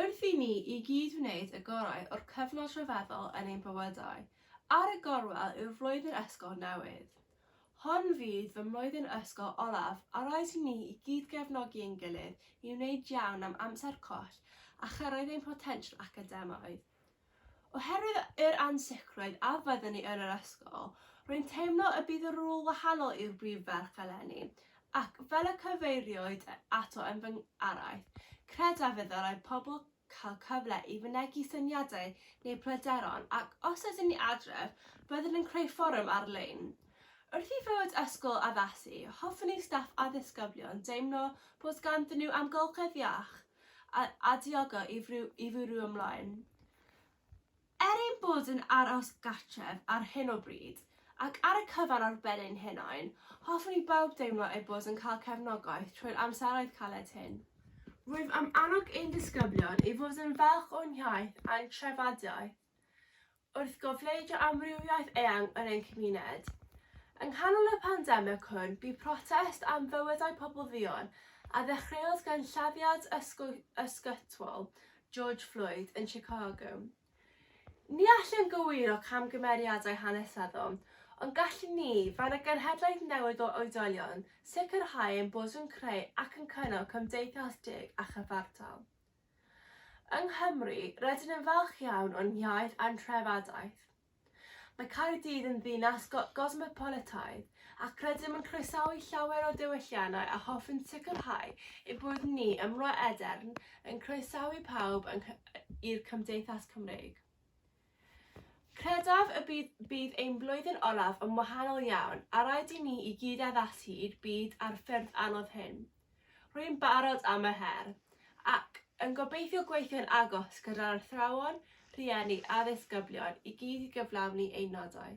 Wrth i ni i gyd wneud y gorau o'r cyfnod rhyfeddol yn ein bywydau, ar y gorwel yw'r flwyddyn ysgol newydd. Hon fydd fy mlwyddyn ysgol olaf a rhaid i ni i gyd gefnogi ein gilydd i wneud iawn am amser coll a chyrraedd ein potensial academaidd. Oherwydd yr ansicrwydd a fyddwn ni yn yr ysgol, rwy'n teimlo y bydd y rôl wahanol i'r brif ferch eleni, ac, fel y cyfeiriwyd ato yn fy araith, credaf y dylai pobl cael cyfle i fynegi syniadau neu bryderon ac, os ydyn ni adref, byddwn yn creu fforwm ar-lein. Wrth i fywyd ysgol addasu, hoffwn i staff a ddisgyblion deimlo bod ganddyn nhw amgylchedd iach, a a diogo i fru i fwrw ymlaen. Er ein bod yn aros gartref ar hyn o bryd, ac ar y cyfan ar ben ein hunain, hoffwn i bawb deimlo eu bod yn cael cefnogaeth trwy'r amseroedd caled hyn. Rwyf am annog ein disgyblion i fod yn falch o'n hiaith a'n treftadaeth. wrth gofleidio amrywiaeth eang yn ein cymuned. Yng nghanol y pandemig hwn, bu protest am fywydau pobl dduon, a ddechreuodd gan lladdiad ysgytwol George Floyd yn Chicago. Ni allwn gywiro camgymeriadau hanesyddol, ond gallwn ni, fel y genhedlaeth newydd o oedolion, sicrhau ein bod yn creu ac yn cynnal cymdeithas deg a chyfartal. Yng Nghymru, rydyn yn falch iawn o'n hiaith a'n trefadaeth. Mae Caerdydd yn ddinas go gosmopolitaidd ac rydym yn croesawu llawer o diwylliannau a hoffwn sicrhau ein bod ni ym Mro Edern yn croesawu pawb yng Nghy i'r Cymdeithas Cymreig. Credaf y bydd bydd ein blwyddyn olaf yn wahanol iawn a rhaid i ni i gyd addasu i'r byd a'r ffyrdd anodd hyn. Rwy'n barod am yr her, ac yn gobeithio gweithio'n agos gyda'r athrawon, rhieni a ddisgyblion i gyd i gyflawni ein nodau.